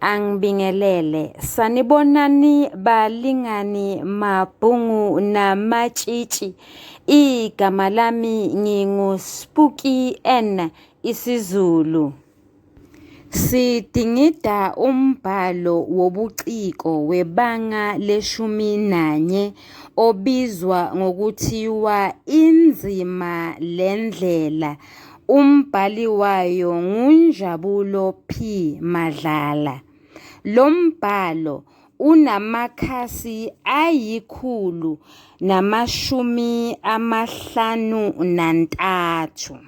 Angibingelele. Sanibonani balingani mabhungu namatshitshi. Igama lami ngingu Spooky N isiZulu. Sidingida umbhalo wobuciko webanga leshumi nanye obizwa ngokuthiwa inzima lendlela Umbhali wayo nguNjabulo P. Madlala. Lo mbhalo unamakhasi ayikhulu namashumi amahlanu nantathu.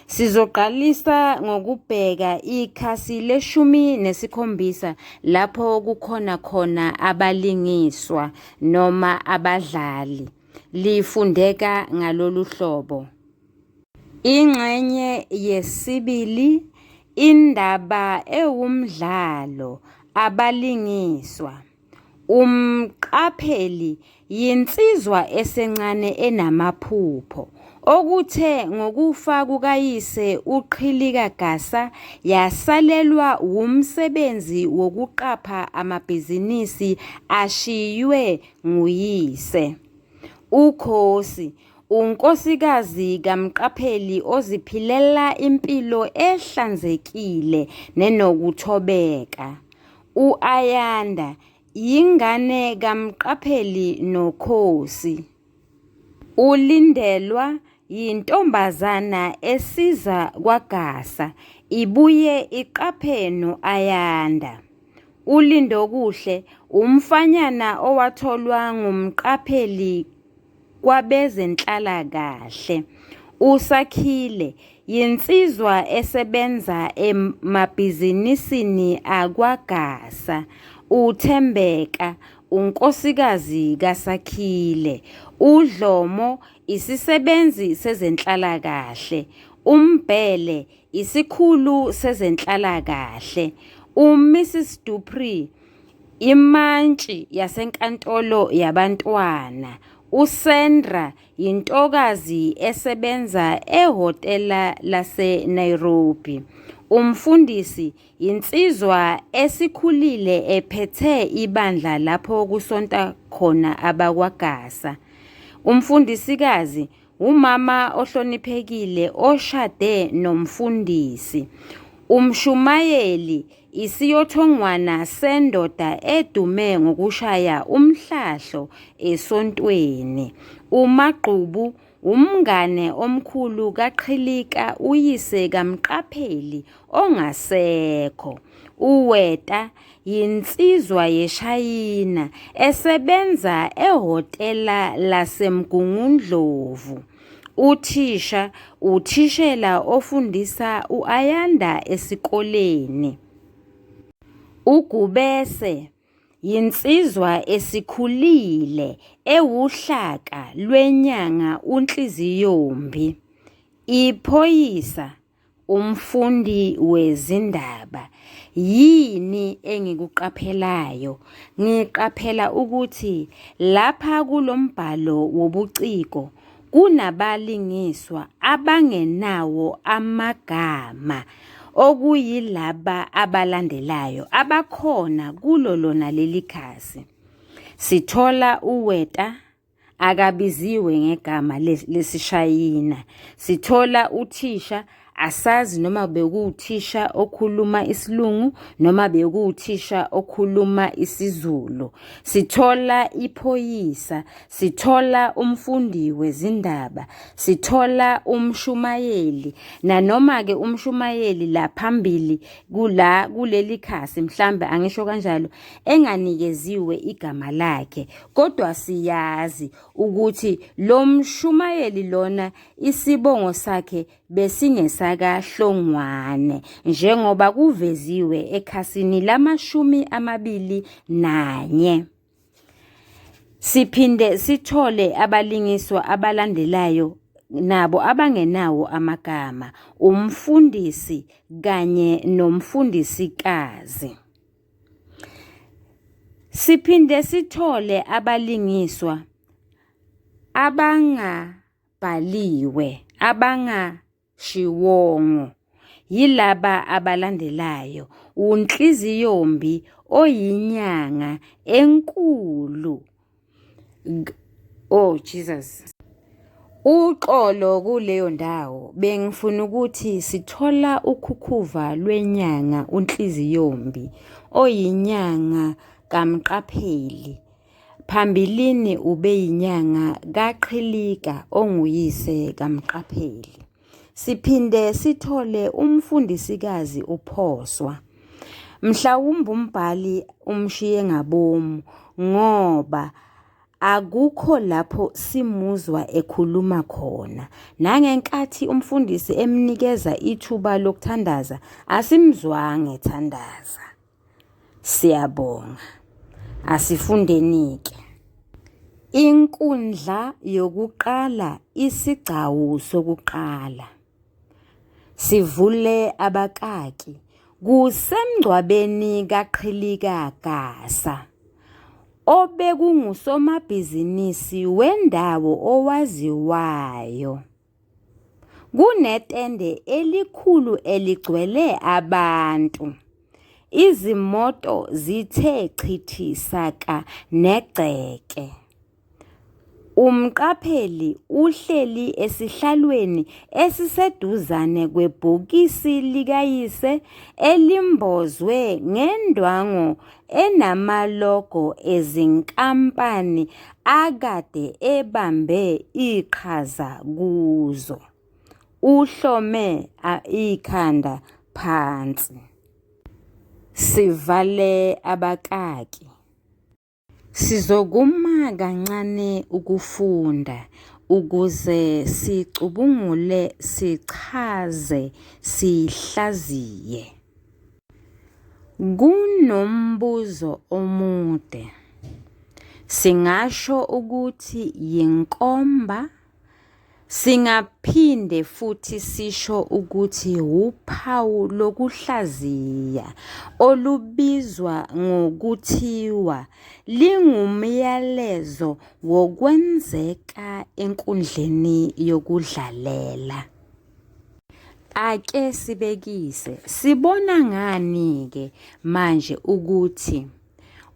Sizoqalisa ngokubheka ikhasi leshumi nesikhombisa lapho kukhona khona abalingiswa noma abadlali. Lifundeka ngalolu hlobo. Ingxenye yesibili indaba ewumdlalo abalingiswa. Umqapheli yinsizwa esencane enamaphupho okuthe ngokufa kukayise uQhilika Gasa yasalelwa wumsebenzi wokuqapha amabhizinisi ashiywe nguyise. UKhosi unkosikazi kamqapheli oziphilela impilo ehlanzekile nenokuthobeka. U-Ayanda yingane kamqapheli nokhosi. Ulindelwa yintombazana esiza kwagasa ibuye iqaphe no-Ayanda. ULindokuhle umfanyana owatholwa ngumqapheli kwabezenhlalakahle. USakhile yinsizwa esebenza emabhizinisini akwaGasa. UThembeka unkosikazi kaSakhile. UDlomo isisebenzi sezenhlalakahle. UMbhele isikhulu sezenhlalakahle. UMrs Dupree Imantshi yaseNkantolo yaBantwana uSandra yintokazi esebenza ehhotela laseNairobi. Umfundisi yinsizwa esikhulile ephethe ibandla lapho kusonta khona abakwaGasa. Umfundisikazi wumama ohloniphekile oshade nomfundisi. Umshumayeli Isiyothongwana sendoda edume ngokushaya umhlahlo esontweni. UMagqubu wumngane omkhulu kaQhilika uyise kaMqapheli ongasekho. UWeta yinsizwa yeShayina esebenza ehhotela laseMgungundlovu. Uthisha uthishela ofundisa u-Ayanda esikoleni. UGubese yinsizwa esikhulile ewuhlaka lwenyanga uNhliziyombi. Iphoyisa Umfundi wezindaba, yini engikuqaphelayo? Ngiqaphela ukuthi lapha kulo mbhalo wobuciko kunabalingiswa abangenawo amagama okuyilaba abalandelayo abakhona kulo lona leli khasi. Sithola uWeta, akabiziwe ngegama lesishayina sithola uthisha asazi noma bekuwuthisha okhuluma isilungu noma bekuwuthisha okhuluma isizulu sithola iphoyisa sithola umfundi wezindaba sithola umshumayeli nanoma ke umshumayeli la phambili kula kuleli khasi mhlambe angisho kanjalo enganikeziwe igama lakhe Kodwa siyazi ukuthi lo mshumayeli lona isibongo sakhe besingesakaHlongwane njengoba kuveziwe ekhasini lamashumi amabili nanye. Siphinde sithole abalingiswa abalandelayo nabo abangenawo amagama, umfundisi kanye nomfundisikazi. Siphinde sithole abalingiswa abangabhaliwe abangashiwongo yilaba abalandelayo, uNhliziyombi oyinyanga enkulu. Oh Jesus. Uxolo kuleyo ndawo bengifuna ukuthi sithola ukhukhuva lwenyanga uNhliziyombi oyinyanga kaMqapheli. Phambilini ubeyinyanga kaQhilika onguyise kaMqapheli. Siphinde sithole umfundisikazi uPhoswa. Mhlawumbe umbhali umshiye ngabomu ngoba akukho lapho simuzwa ekhuluma khona. Nangenkathi umfundisi emnikeza ithuba lokuthandaza, asimzwanga ethandaza. Siyabonga. Asifundenike. Inkundla yokuqala isigcawu sokuqala. Sivule abakaki. Kusemngcwabeni kaQhilika Gasa obekungusomabhizinisi wendawo owaziwayo. Kunetende elikhulu eligcwele abantu. Izimoto zithe chithi saka negceke. Umqapheli uhleli esihlalweni esiseduzane kwebhokisi likayise elimbozwe ngendwangu enamalogo ezinkampani akade ebambe iqhaza kuzo. Uhlome ikhanda phansi. Sivale abakaki. Sizokuma kancane ukufunda ukuze sicubungule, sichaze, sihlaziye. Kunombuzo omude. Singasho ukuthi yinkomba singaphinde futhi sisho ukuthi wuphawu lokuhlaziya olubizwa ngokuthiwa lingumyalezo wokwenzeka enkundleni yokudlalela. Ake sibekise, sibona ngani-ke manje ukuthi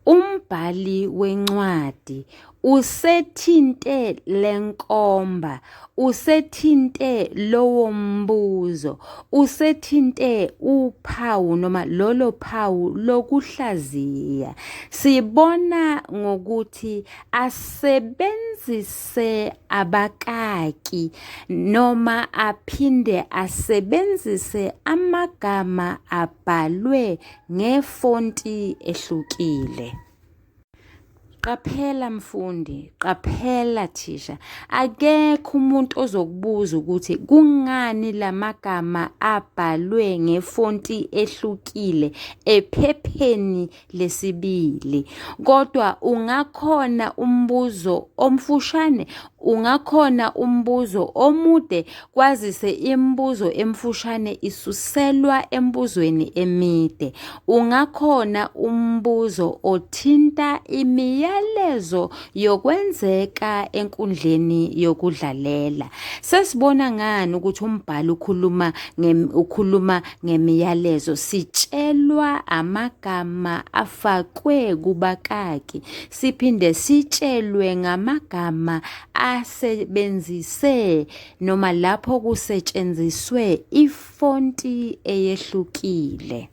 umbhali wencwadi usethinte lenkomba usethinte lowo mbuzo usethinte uphawu noma lolo phawu lokuhlaziya sibona ngokuthi asebenzise se abakaki noma aphinde asebenzise amagama abhalwe ngefonti ehlukile. Qaphela mfundi, qaphela thisha. Akekho umuntu ozokubuza ukuthi kungani lamagama abhalwe ngefonti ehlukile ephepheni lesibili kodwa ungakhona umbuzo omfushane ungakhona umbuzo omude kwazise imibuzo emfushane isuselwa embuzweni emide ungakhona umbuzo othinta imiyalezo yokwenzeka enkundleni yokudlalela sesibona ngani ukuthi umbhalo ukhuluma ukhuluma ngemiyalezo sitshelwa amagama afakwe kubakaki siphinde sitshelwe ngamagama asebenzise noma lapho kusetshenziswe ifonti eyehlukile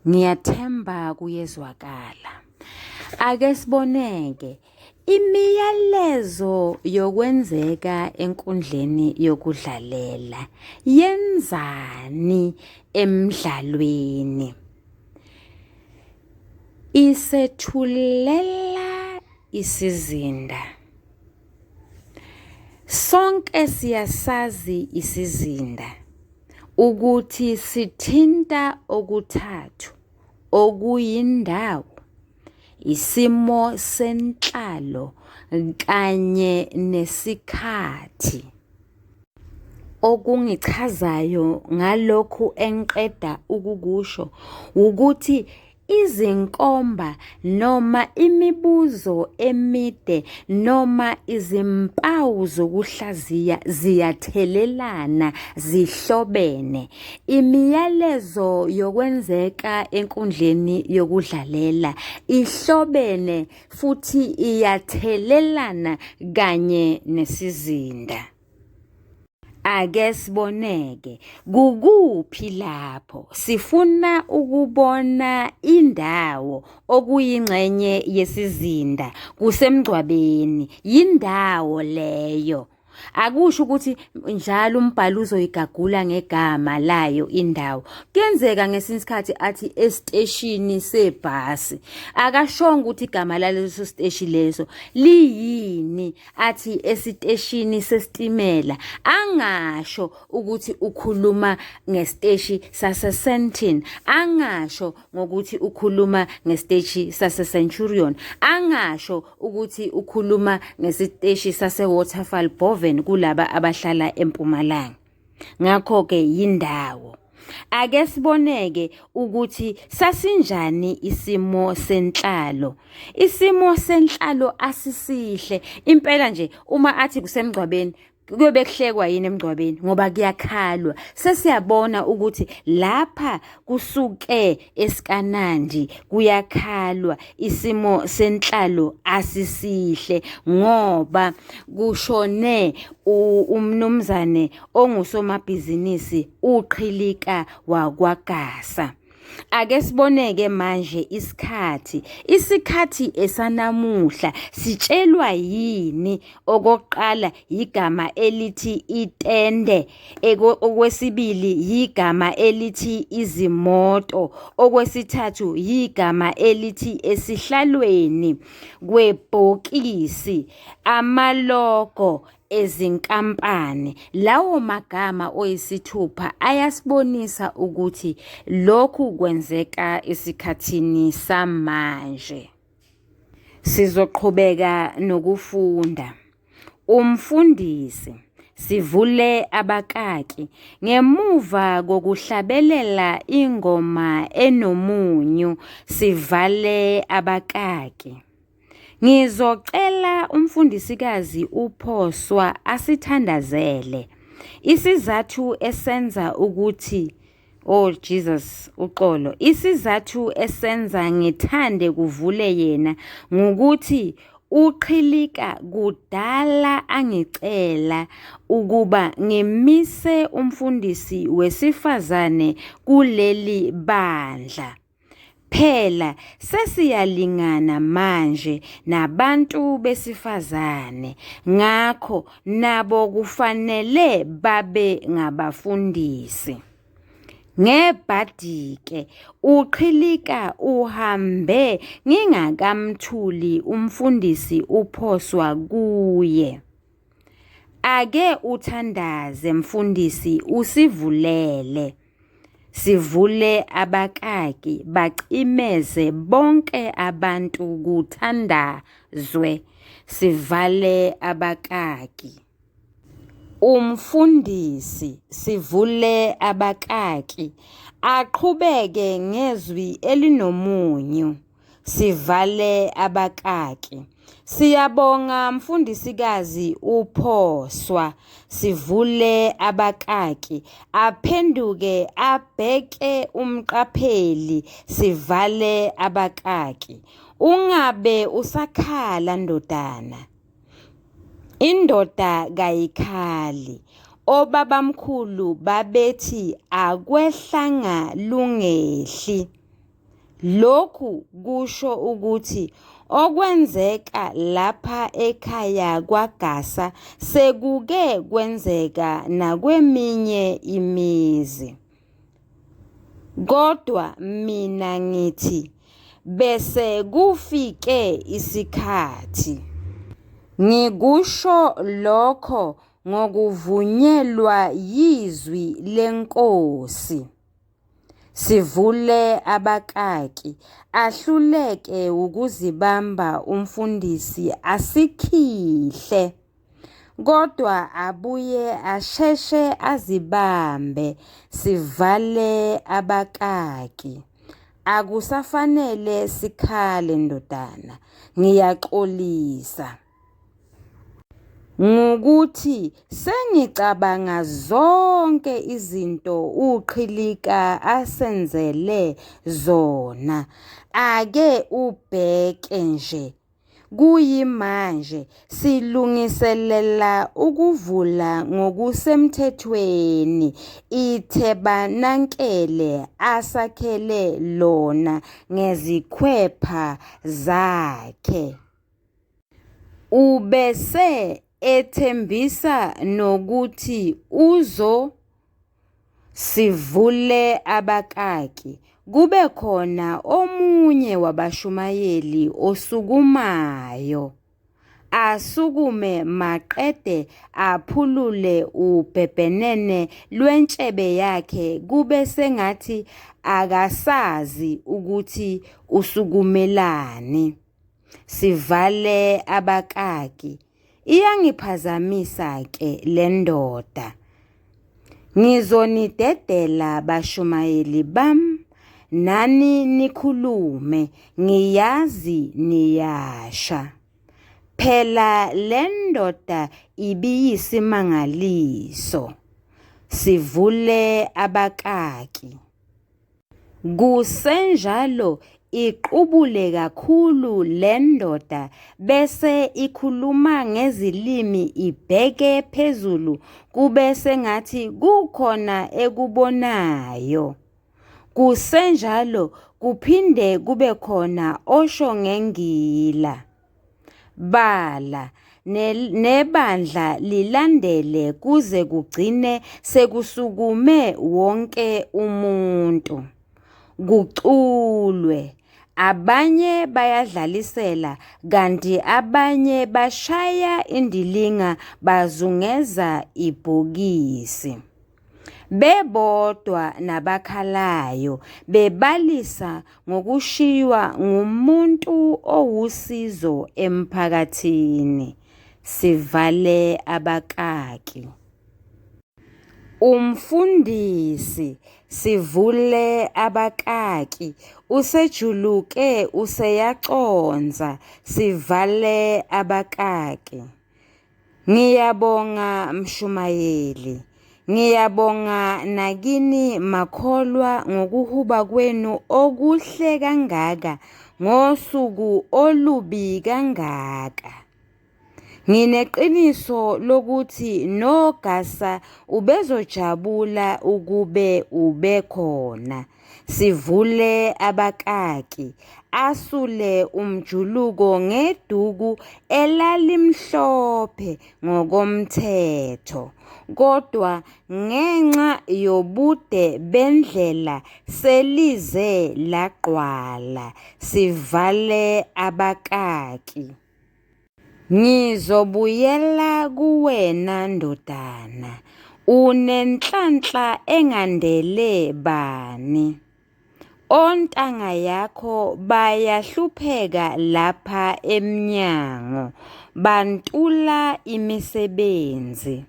ngiyathemba kuyezwakala ake siboneke Imiyalezo yokwenzeka enkundleni yokudlalela yenzani emdlalweni? Isethulela isizinda. Sonke siyasazi isizinda ukuthi sithinta okuthathu okuyindawo isimo senhlalo kanye nesikhathi okungichazayo ngalokhu engiqeda ukukusho wukuthi izinkomba noma imibuzo emide noma izimpawu zokuhlaziya ziyathelelana zihlobene Imiyalezo yokwenzeka enkundleni yokudlalela ihlobene futhi iyathelelana kanye nesizinda. Ake siboneke kukuphi lapho sifuna ukubona indawo okuyingxenye yesizinda kusemgcwabeni yindawo leyo. akusho ukuthi njalo umbhalo uzoyigagula ngegama layo indawo kuyenzeka ngesinye isikhathi athi esiteshini sebhasi akashongo ukuthi igama laleso siteshi leso liyini athi esiteshini sesitimela angasho ukuthi ukhuluma ngesiteshi sasesentin angasho ngokuthi ukhuluma ngesiteshi sase-centurion angasho ukuthi ukhuluma ngesiteshi sase-waterfall boven kulaba abahlala empumalanga ngakho-ke yindawo ake siboneke ukuthi sasinjani isimo senhlalo isimo senhlalo asisihle impela nje uma athi kusemgcwabeni kuyobe kuhlekwa yini emngcwabeni ngoba kuyakhalwa sesiyabona ukuthi lapha kusuke esikanandi kuyakhalwa isimo senhlalo asisihle ngoba kushone umnumzane ongusomabhizinisi uqhilika wakwagasa Ake siboneke manje isikhathi. Isikhathi esanamuhla sitshelwa yini? Okokuqala yigama elithi itende, okwesibili yigama elithi izimoto, okwesithathu yigama elithi esihlalweni kwebhokisi, amalogo ezinkampani lawo magama oyisithupha ayasibonisa ukuthi lokhu kwenzeka esikhathini samanje sizoqhubeka nokufunda umfundisi sivule abakaki ngemuva kokuhlabelela ingoma enomunyu sivale abakaki Ngizocela umfundisikazi uPhoswa asithandazele isizathu esenza ukuthi Oh Jesus uxolo isizathu esenza ngithande kuvule yena ngukuthi uqhilika kudala angicela ukuba ngimise umfundisi wesifazane kuleli bandla Phela sesiyalingana manje nabantu besifazane ngakho nabo kufanele babe ngabafundisi. Ngebhadi-ke uQhilika uhambe ngingakamthuli umfundisi uphoswa kuye. Ake uthandaze mfundisi usivulele sivule abakaki bacimeze bonke abantu kuthandazwe sivale abakaki umfundisi sivule abakaki aqhubeke ngezwi elinomunyu sivale abakaki. Siyabonga mfundisikazi uphoswa sivule abakaki aphenduke abheke umqapheli sivale abakaki ungabe usakhala ndodana indoda kayikhali obabamkhulu babethi akwehlanga lungehli Lokhu kusho ukuthi okwenzeka lapha ekhaya kwaGasa sekuke kwenzeka nakweminye imizi. Kodwa mina ngithi bese kufike isikhathi. Ngikusho lokho ngokuvunyelwa yizwi leNkosi. Sivule abakaki. Ahluleke ukuzibamba umfundisi asikhihle. Kodwa abuye asheshe azibambe sivale abakaki. Akusafanele sikhale ndodana. Ngiyaxolisa. ngukuthi sengicabanga zonke izinto uqhilika asenzele zona ake ubheke nje kuyimanje silungiselela ukuvula ngokusemthethweni iThebanakele asakhele lona ngezikhwepha zakhe. Ubese ethembisa nokuthi uzo sivule abakaki kube khona omunye wabashumayeli osukumayo asukume maqede aphulule ubhebhenene lwentshebe yakhe kube sengathi akasazi ukuthi usukumelani. Sivale abakaki. Iyangiphazamisa ke le ndoda. Ngizonidedela bashumayeli bam nani nikhulume ngiyazi niyasha. Phela le ndoda ibiyisimangaliso. Sivule abakaki. Kusenjalo iqubule kakhulu le ndoda bese ikhuluma ngezilimi ibheke phezulu kube sengathi kukhona ekubonayo. Kusenjalo kuphinde kube khona osho ngengila. Bala, ne- nebandla lilandele kuze kugcine sekusukume wonke umuntu. Kuculwe. Abanye bayadlalisela kanti abanye bashaya indilinga bazungeza ibhokisi. bebodwa nabakhalayo bebalisa ngokushiywa ngumuntu owusizo emphakathini sivale abakaki Umfundisi sivule abakaki usejuluke useyaconsa sivale abakaki Ngiyabonga mshumayeli. Ngiyabonga nakini makholwa ngokuhuba kwenu okuhle kangaka ngosuku olubi kangaka. Ngineqiniso lokuthi nogasa ubezojabula ukube ubekhona. Sivule abakaki, asule umjuluko ngeduku elalimhlophe ngokomthetho, kodwa ngenxa yobude bendlela selize lagqwala. Sivale abakaki. Ngizobuyela kuwena ndodana, unenhlanhla engandele bani? Ontanga yakho bayahlupheka lapha emnyango, bantula imisebenzi.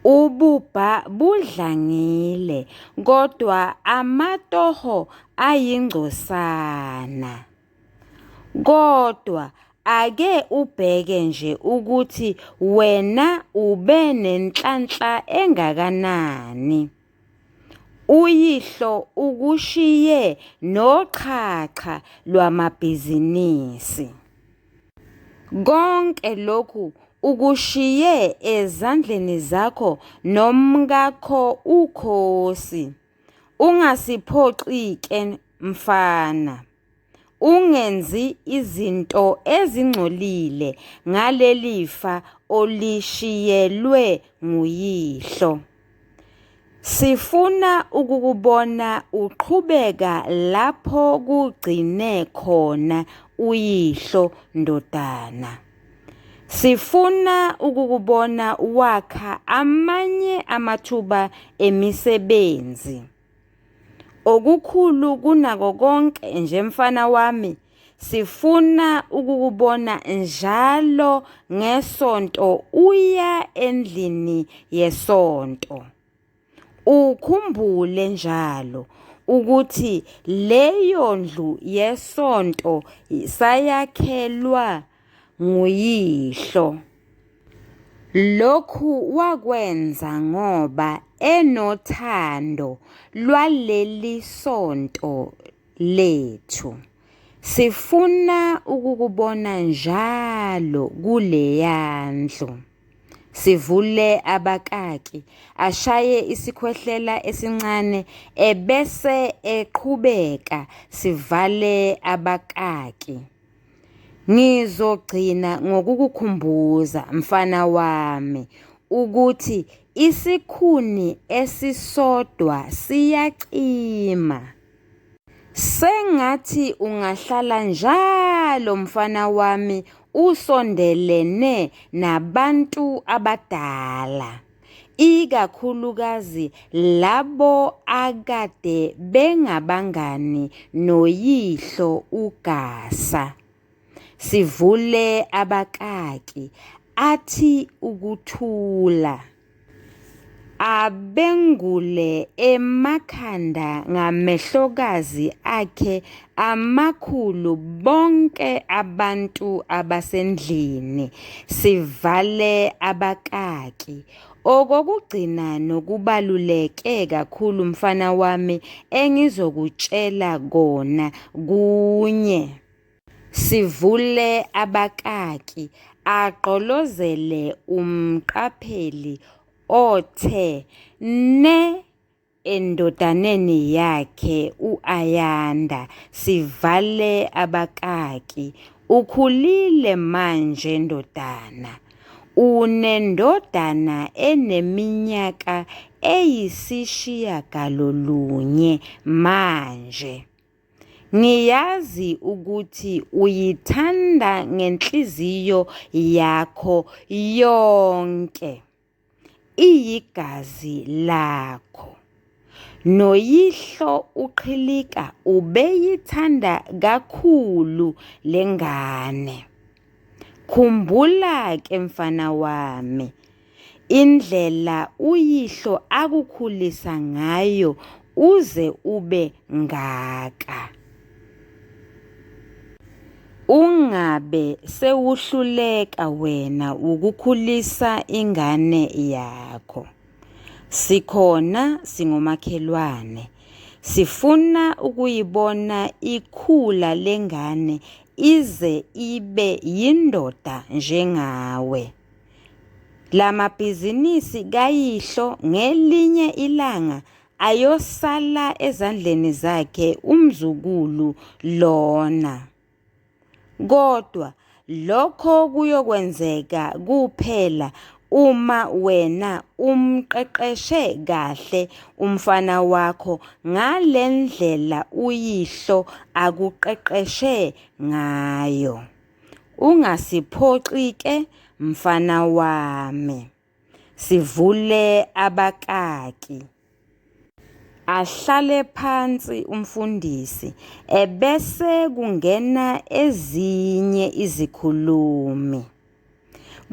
Ububha budlangile kodwa amatoho ayingcosana. Kodwa ake ubheke nje ukuthi wena ube nenhlanhla engakanani. Uyihlo ukushiye noxhaxha lwamabhizinisi. Konke lokhu ukushiye ezandleni zakho nomkakho uKhosi. Ungasiphoxi-ke mfana, ungenzi izinto ezingcolile ngaleli fa olishiyelwe nguyihlo. Sifuna ukukubona uqhubeka lapho kugcine khona uyihlo ndodana. Sifuna ukukubona wakha amanye amathuba emisebenzi. Okukhulu kunako konke nje mfana wami sifuna ukukubona njalo ngesonto uya endlini yesonto. Ukhumbule njalo ukuthi leyo ndlu yesonto sayakhelwa nguyihlo. Lokhu wakwenza ngoba enothando lwaleli sonto lethu. Sifuna ukukubona njalo kuleya ndlu. Sivule abakaki, ashaye isikhwehlela esincane ebese eqhubeka sivale abakaki. Ngizogcina ngokukukhumbuza mfana wami ukuthi isikhuni esisodwa siyacima. Sengathi ungahlala njalo mfana wami usondelene nabantu abadala ikakhulukazi labo akade bengabangani noyihlo uGasa. Sivule abakaki athi ukuthula. Abengule emakhanda ngamehlokazi akhe amakhulu bonke abantu abasendlini. Sivale abakaki. Okokugcina nokubaluleke kakhulu mfana wami engizokutshela kona kunye. Sivule abakaki agqolozele umqapheli othe ne endodaneni yakhe u-Ayanda sivale abakaki ukhulile manje ndodana unendodana eneminyaka eyisishiyagalolunye manje. Ngiyazi ukuthi uyithanda ngenhliziyo yakho yonke. Iyigazi lakho. Noyihlo uqhilika ubeyithanda kakhulu lengane. Khumbula ke mfana wami Indlela uyihlo akukhulisa ngayo uze ube ngaka. Ungabe sewuhluleka wena wukukhulisa ingane yakho. Sikhona singomakhelwane. Sifuna ukuyibona ikhula lengane ize ibe yindoda njengawe. La mabhizinisi kayihlo ngelinye ilanga ayosala ezandleni zakhe umzukulu lona. Kodwa lokho kuyokwenzeka kuphela uma wena umqeqeshe kahle umfana wakho ngale ndlela uyihlo akuqeqeshe ngayo. Ungasiphoxi ke mfana wami. Sivule abakaki. Ahlale phansi umfundisi ebese kungena ezinye izikhulumi.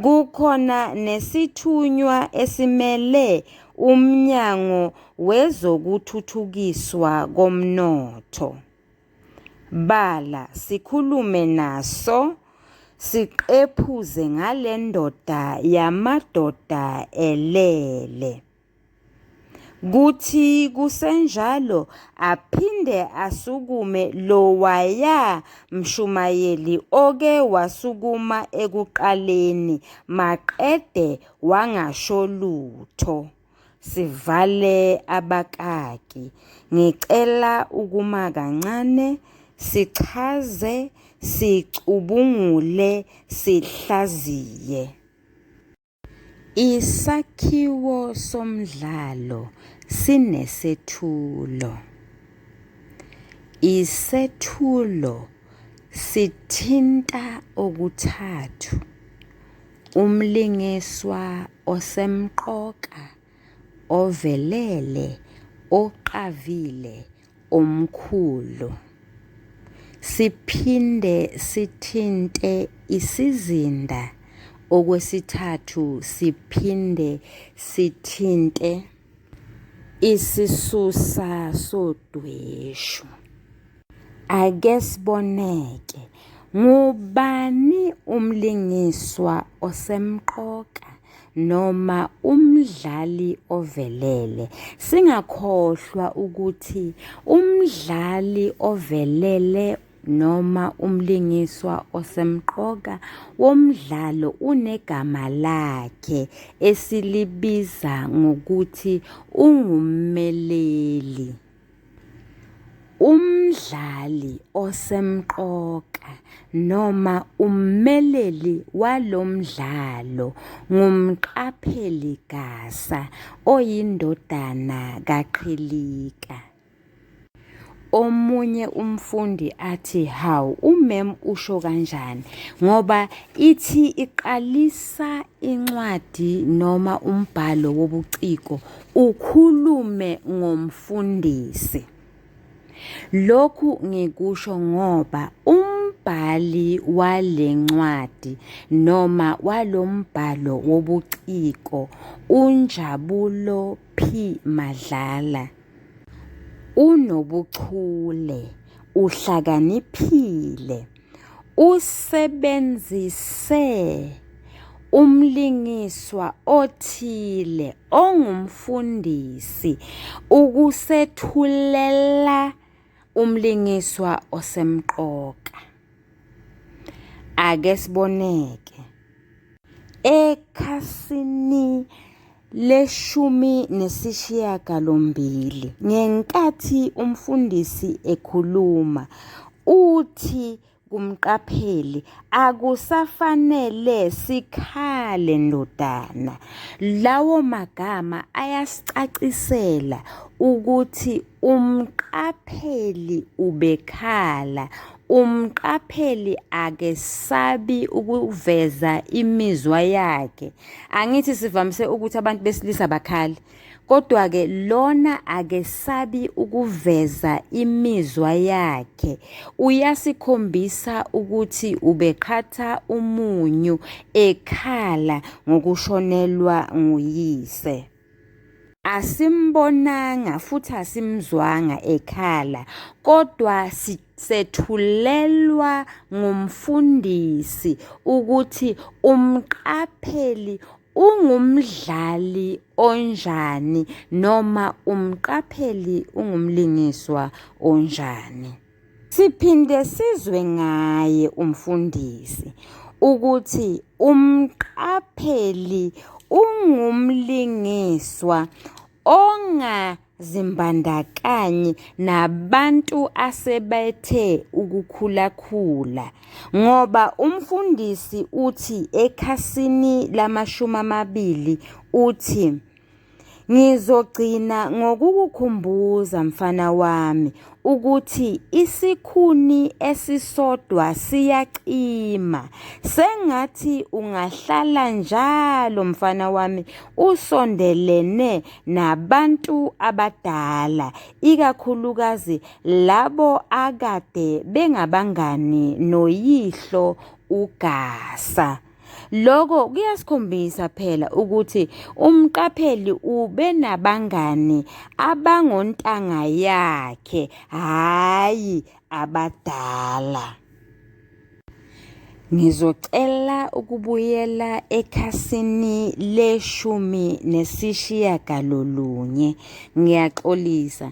Kukhona nesithunywa esimele uMnyango wezokuThuthukiswa koMnotho. Bala, sikhulume naso, siqephuze ngale ndoda yamadoda elele. Kuthi kusenjalo aphinde asukume lowaya mshumayeli oke wasukuma ekuqaleni maqede wangasho lutho. Sivale abakaki. Ngicela ukuma kancane sichaze, sicubungule, sihlaziye. Isakhiwo somdlalo sinesethulo. Isethulo sithinta okuthathu. Umlingiswa osemqoka, ovelele, oqavile, omkhulu. Siphinde sithinte isizinda okwesithathu siphinde sithinte. Isisusa sodweshu. Ake siboneke ngubani umlingiswa osemqoka noma umdlali ovelele. Singakhohlwa ukuthi umdlali ovelele noma umlingiswa osemqoka womdlalo unegama lakhe esilibiza ngokuthi ungummeleli. Umdlali osemqoka noma ummeleli walo mdlalo ngumqapheli gasa oyindodana kaQhilika. omunye umfundi athi hawu umem usho kanjani ngoba ithi iqalisa incwadi noma umbhalo wobuciko ukhulume ngomfundisi lokhu ngikusho ngoba umbhali wale ncwadi noma walombhalo wobuciko unjabulo p madlala Unobuchule, uhlakaniphile, usebenzise umlingiswa othile ongumfundisi ukusethulela umlingiswa osemqoka. Ake siboneke. Ekhasini leshumi nesishiyagalombili ngenkathi umfundisi ekhuluma uthi kumqapheli akusafanele sikhale ndodana lawo magama ayasicacisela ukuthi Umqapheli ubekhala, umqapheli akesabi ukuveza imizwa yakhe. Angithi sivamise ukuthi abantu besilisa bakhale. Kodwa-ke lona akesabi ukuveza imizwa yakhe. Uyasikhombisa ukuthi ubeqhatha umunyu ekhala ngokushonelwa nguyise. Asimbonanga futhi asimzwanga ekhala kodwa sethulelwa ngumfundisi ukuthi umqapheli ungumdlali onjani noma umqapheli ungumlingiswa onjani. Siphinde sizwe ngaye umfundisi ukuthi umqapheli ungumlingiswa ongazimbandakanyi nabantu asebethe ukukhulakhula ngoba umfundisi uthi ekhasini lamashumi amabili uthi Ngizogcina ngokukukhumbuza mfana wami ukuthi isikhuni esisodwa siyaqima. Sengathi ungahlala njalo mfana wami usondelene nabantu abadala, ikakhulukazi labo akade bengabangani noyihlo uGasa. Lokho kuyasikhombisa phela ukuthi umqapheli ubenabangani abangontanga yakhe hhayi abadala. Ngizocela ukubuyela ekhasini leshumi nesishiyagalolunye. Ngiyaxolisa.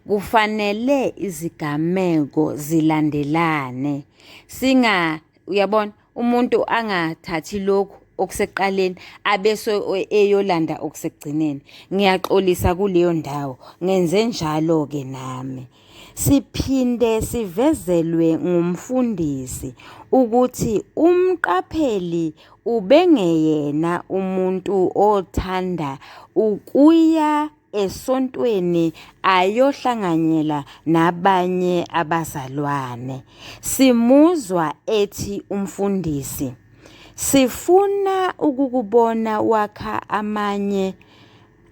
Kufanele izigameko zilandelane. Singa uyabona? umuntu angathathi lokhu okusekuqaleni abese eyolanda okusekugcineni ngiyaxolisa kuleyo ndawo ngenze njalo ke nami siphinde sivezelwe ngumfundisi ukuthi umqapheli ubengeyena umuntu othanda ukuya esontweni ayohlanganyela nabanye abazalwane. Simuzwa ethi umfundisi, sifuna ukukubona wakha amanye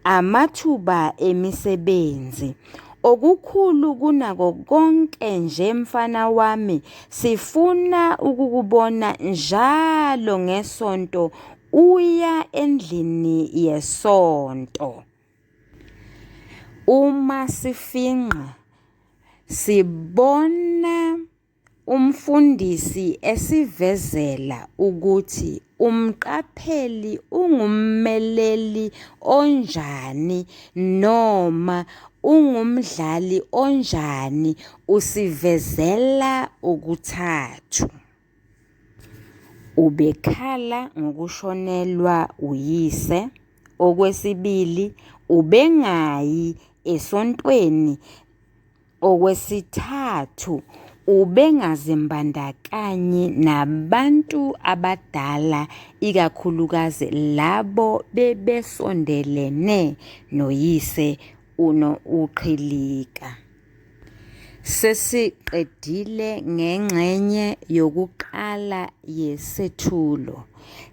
amathuba emisebenzi. Okukhulu kunako konke nje mfana wami, sifuna ukukubona njalo ngesonto Uya endlini yesonto. Uma sifingqa sibona umfundisi esivezela ukuthi umqapheli ungummeleli onjani noma ungumdlali onjani usivezela okuthathu. Ubekhala ngokushonelwa uyise. Okwesibili, ubengayi esontweni. Okwesithathu, ubengazimbandakanyi nabantu abadala, ikakhulukazi labo bebesondelene noyise uQhilika. Sesiqedile ngengxenye yokuqala yesethulo.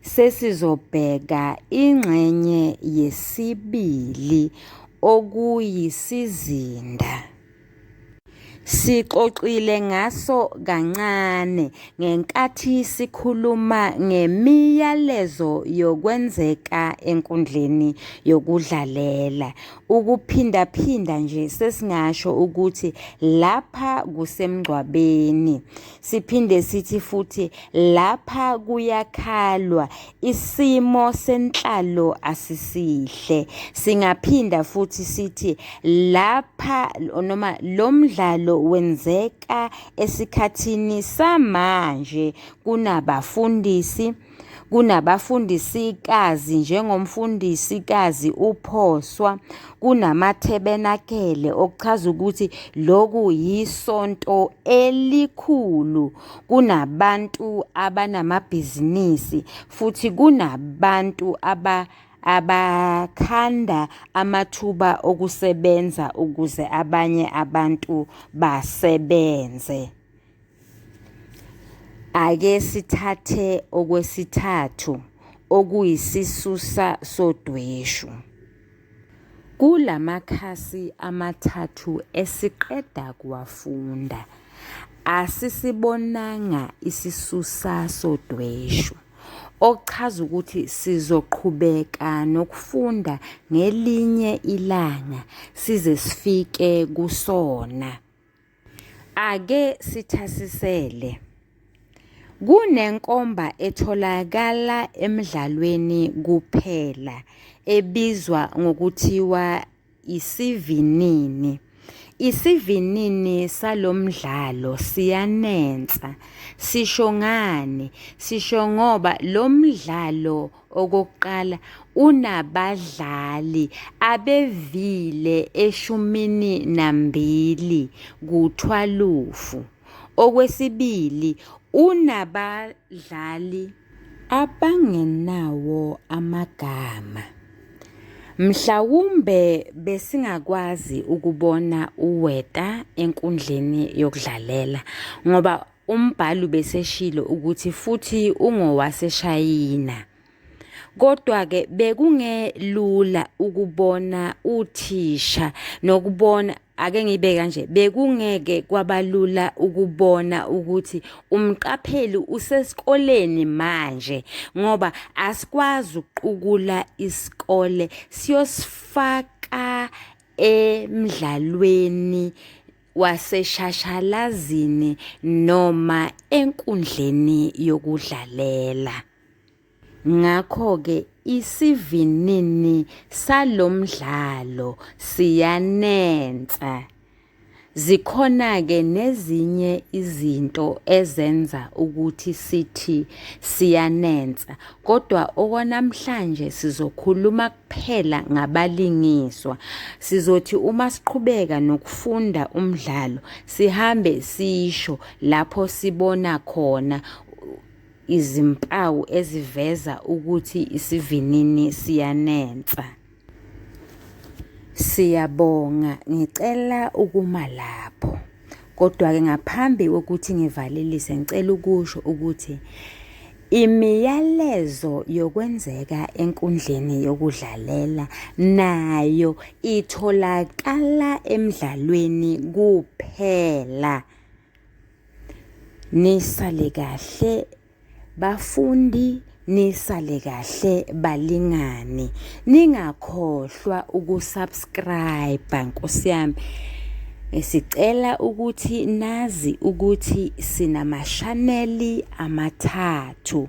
Sesizobheka ingxenye yesibili okuyisizinda. Sixoxile ngaso kancane ngenkathi sikhuluma ngemiyalezo yokwenzeka enkundleni yokudlalela. Ukuphindaphinda nje sesingasho ukuthi lapha kusemngcwabeni. Siphinde sithi futhi lapha kuyakhalwa, isimo senhlalo asisihle. Singaphinda futhi sithi lapha noma lo mdlalo wenzeka esikhathini samanje kunabafundisi, kunabafundisikazi njengomfundisikazi uPhoswa, kunamathebenakele okuchaza ukuthi loku yisonto elikhulu, kunabantu abanamabhizinisi futhi kunabantu aba abakhanda amathuba okusebenza ukuze abanye abantu basebenze. Ake sithathe okwesithathu okuyisisusa sodweshu. Kula makhasi amathathu esiqeda kuwafunda, asisibonanga isisusa sodweshu, okuchaza ukuthi sizoqhubeka nokufunda ngelinye ilanga size sifike kusona. Ake sithasisele. Kunenkomba etholakala emdlalweni kuphela ebizwa ngokuthiwa isivinini. Isivinini salo mdlalo siyanensa. Sisho ngani? Sisho ngoba lo mdlalo Okokuqala, unabadlali abevile eshumini nambili kuthwalufu. Okwesibili, unabadlali abangenawo amagama. Mhlawumbe besingakwazi ukubona uWeta enkundleni yokudlalela ngoba Umbhali ubeseshilo ukuthi futhi ungowaseShayina. Kodwa-ke bekungelula ukubona uthisha nokubona ake ngibe kanje bekungeke kwabalula ukubona ukuthi umqapheli usesikoleni manje ngoba asikwazi ukuqukula isikole siyosifaka emdlalweni waseshashalazini noma enkundleni yokudlalela. Ngakho-ke isivinini salo mdlalo siyanensa. Zikhona-ke nezinye izinto ezenza ukuthi sithi siyanensa, kodwa okwanamhlanje sizokhuluma kuphela ngabalingiswa. Sizothi uma siqhubeka nokufunda umdlalo sihambe sisho lapho sibona khona izimpawu eziveza ukuthi isivinini siyanensa. Siyabonga, ngicela ukuma lapho. Kodwa-ke ngaphambi kokuthi ngivalelise ngicela ukusho ukuthi imiyalezo yokwenzeka enkundleni yokudlalela nayo itholakala emdlalweni kuphela. Nisale kahle. Bafundi nisale kahle balingani ningakhohlwa ukusubscribe nkosi yami sicela ukuthi nazi ukuthi sinamashaneli amathathu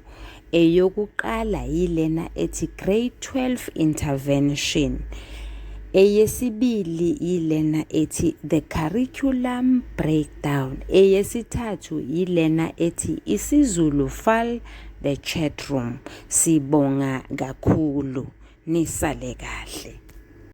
eyokuqala yilena ethi grade 12 intervention eyesibili yilena ethi the curriculum break down eyesithathu yilena ethi isizulu fal the chat room sibonga kakhulu nisale kahle